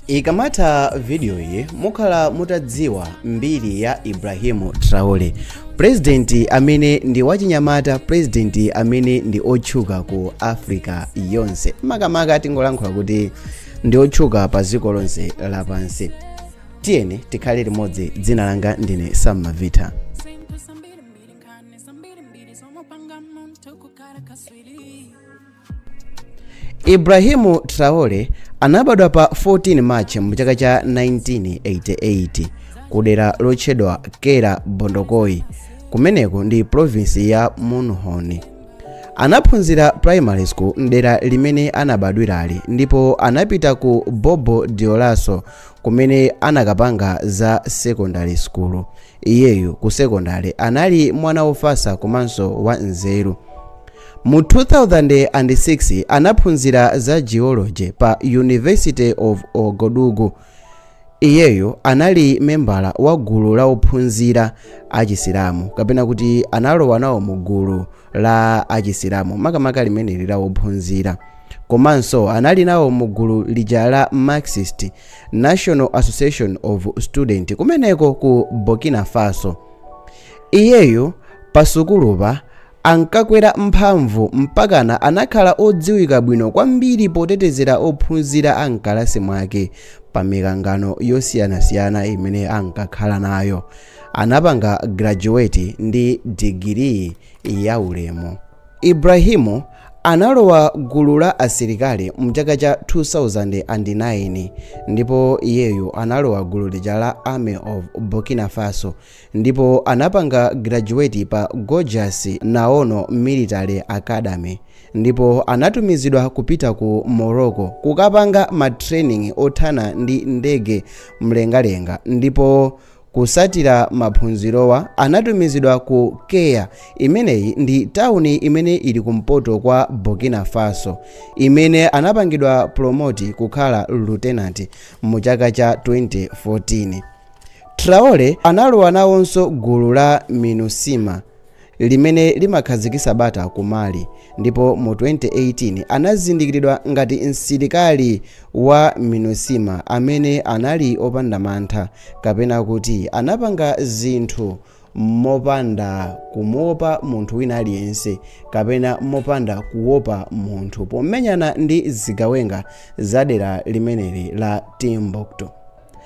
ikamatha vidiyo iyi mukhala mutadziwa mbiri ya ibrahimu traore purezidenti amene ndi wachinyamata purezidenti amene ndi otchuka ku africa yonse makamaka tingolankhula kuti ndi otchuka pa dziko lonse lapansi tiyeni tikhale limodzi dzina langa ndine Sam Mavita Ibrahim Traore anabadwa pa 14 March mu chaka cha 1988 ku dera lotchedwa Kera Bondokuy kumeneko ndi province ya Mouhoun. Anaphunzira primary school mdera limene anabadwirali ndipo anapita ku Bobo Dioulasso kumene anakapanga za secondary school Iyeyu ku sekondale anali mwana wofatsa komanso wanzeru. Mu 2006 anaphunzira za geology pa University of Ouagadougou. Iyeyu anali membala wa gulu la ophunzira achisilamu kapena kuti analowa nawo mu gulu la achisilamu makamaka limeneli la ophunzira komanso anali nawo mu gulu lija la Marxist National Association of Students kumeneko ku Burkina Faso. Iyeyu pasukulupa ankakwera mphamvu mpakana anakhala odziwika bwino kwambiri potetezera ophunzira a mkalasi mwake pa mikangano yosiyanasiyana imene ankakhala nayo. Anapanga graduate ndi digiri ya ulemu. Ibrahimu Analowa gulu la asilikali mchaka cha 2009 ndipo iyeyu analowa gulu lija la Army of Burkina Faso ndipo anapanga graduate pa Georges Namoano Military Academy ndipo anatumizidwa kupita ku Morocco kukapanga ma training othana ndi ndege mlengalenga ndipo Kusatira maphunzirowa anatumizidwa ku Kaya, imeneyi ndi tawuni imene ili kumpoto kwa Burkina Faso, imene anapangidwa pulomoti kukhala lutenanti mu chaka cha 2014. Traore analowa nawonso gulu la Minusma. limene limakhazikisa bata ku Mali ndipo mu 2018 anazindikilidwa ngati msilikali wa Minusma amene anali opanda mantha kapena kuti anapanga zinthu mopanda kumuopa munthu wina aliyense kapena mopanda kuopa munthu pomenyana ndi zigawenga za dera limeneli la Timbuktu.